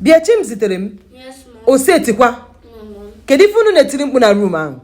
bịa Chimziterem o setikwa kedu ife unu na-etiri mkpu na room ahụ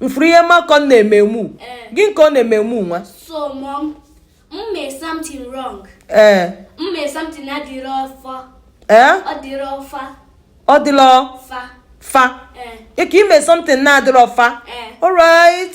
m fụrụ ihe Malcolm na-eme eme gịnị ka ọ na-eme eme nwa ee ọ dịla fa ike ime something na-adịrọ fa alright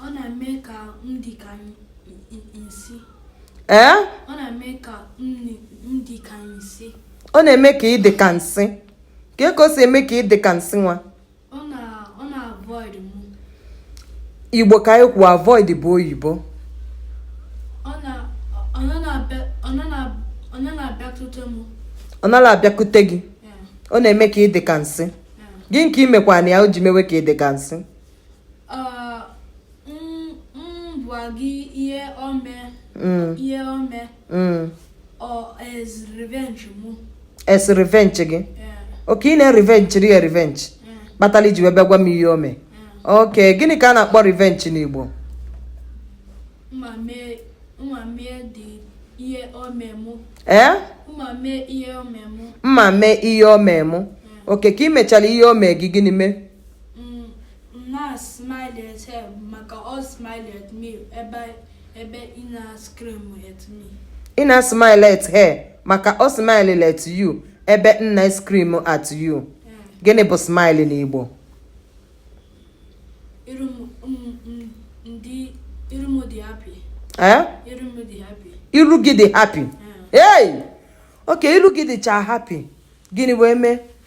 Ọ na-eme ka m dị ka nsị. Ee? Ọ na-eme ka m dị ka nsị. Ọ na-eme ka ị dị ka nsị. Kee ka o si eme ka ị dị ka nsị nwa? Ọ na-avoid m. Igbo ka a na-ekwu avoid bụ oyibo. Ọ nara abịakute m. Ọ nara abịakute gị. Ọ na-eme ka ị dị ka nsị. Gịnị ka i mekwanụ ya o ji mewe ka ị dị ka nsị. m gwa gị ihe o me mm. ihe o me mm. as revenge mụ as revenge gị okay ị na-revenge ri ya revenge kpatara i ji wee bịa gwa m ihe o me okay gịnị ka a na-akpọ revenge n'Igbo ee mma mee ihe o me mụ okay ka ị mechara ihe o me gị gịnị mee na-smile at her maka ọ smile at me ebe ebe ị na-scream at me. Ị na-smile at her maka ọ smile at you ebe m na-scream at you. Gịnị bụ smile n'Igbo? Iru m dị happy. Eh? Iru m dị happy. Iru gị dị happy. Hey! Okay, iru gị dịcha happy. Gịnị wee mee?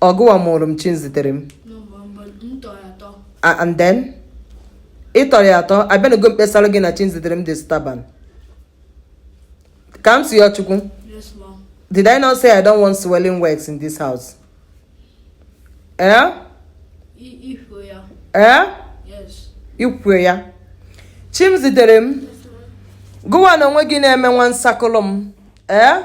ọgụwa mụrụ m Chimziterem and then ị tọrọ ya atọ abịanago m kpesara gị na Chimziterem dị stubborn ka m si ya chukwu did i not say i don't want swearing words in this house eh eh i kwu ya Chimziterem gụwa na onwe gị na-eme nwa nsakụlụ m ee eh?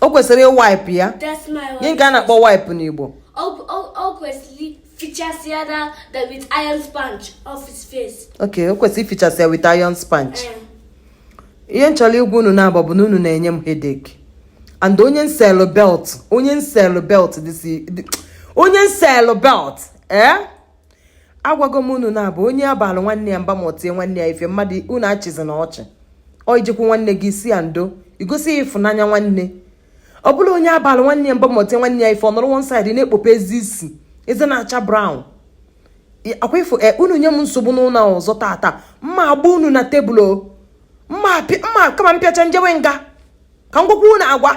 o kwesịrị ịwipe ya gịnị ka a na-akpọ wipe n'Igbo ok o kwesịrị ifichasị ya with iron sponge eh. ihe m chọrọ igwa unu naabọ bụ na unu na-enye m headache and onye m selụ belt onye m selụ belt onye m selụ belt ee eh? agwago m unu na-abụ onye a balụ nwanne ya mba ma o tie nwanne ya ife mmadụ unu achịzina ọchị ọ ijekwu nwanne gị ị sị ya ndo i gosi ya ịfụnanya nwanne ọ bụla onye a balụ nwanne ya mba ma o tie nwanne ya ife ọ nọrọ one side na-ekpope eze isi eze na-acha brown akwa ifo e, unu nye m nsogbu n'ụlọ ọzọ tata m ma-agba unu na tebụl mma kama m pịachaa m jewe nga ka m gwakwa unu agwa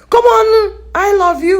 come on i love you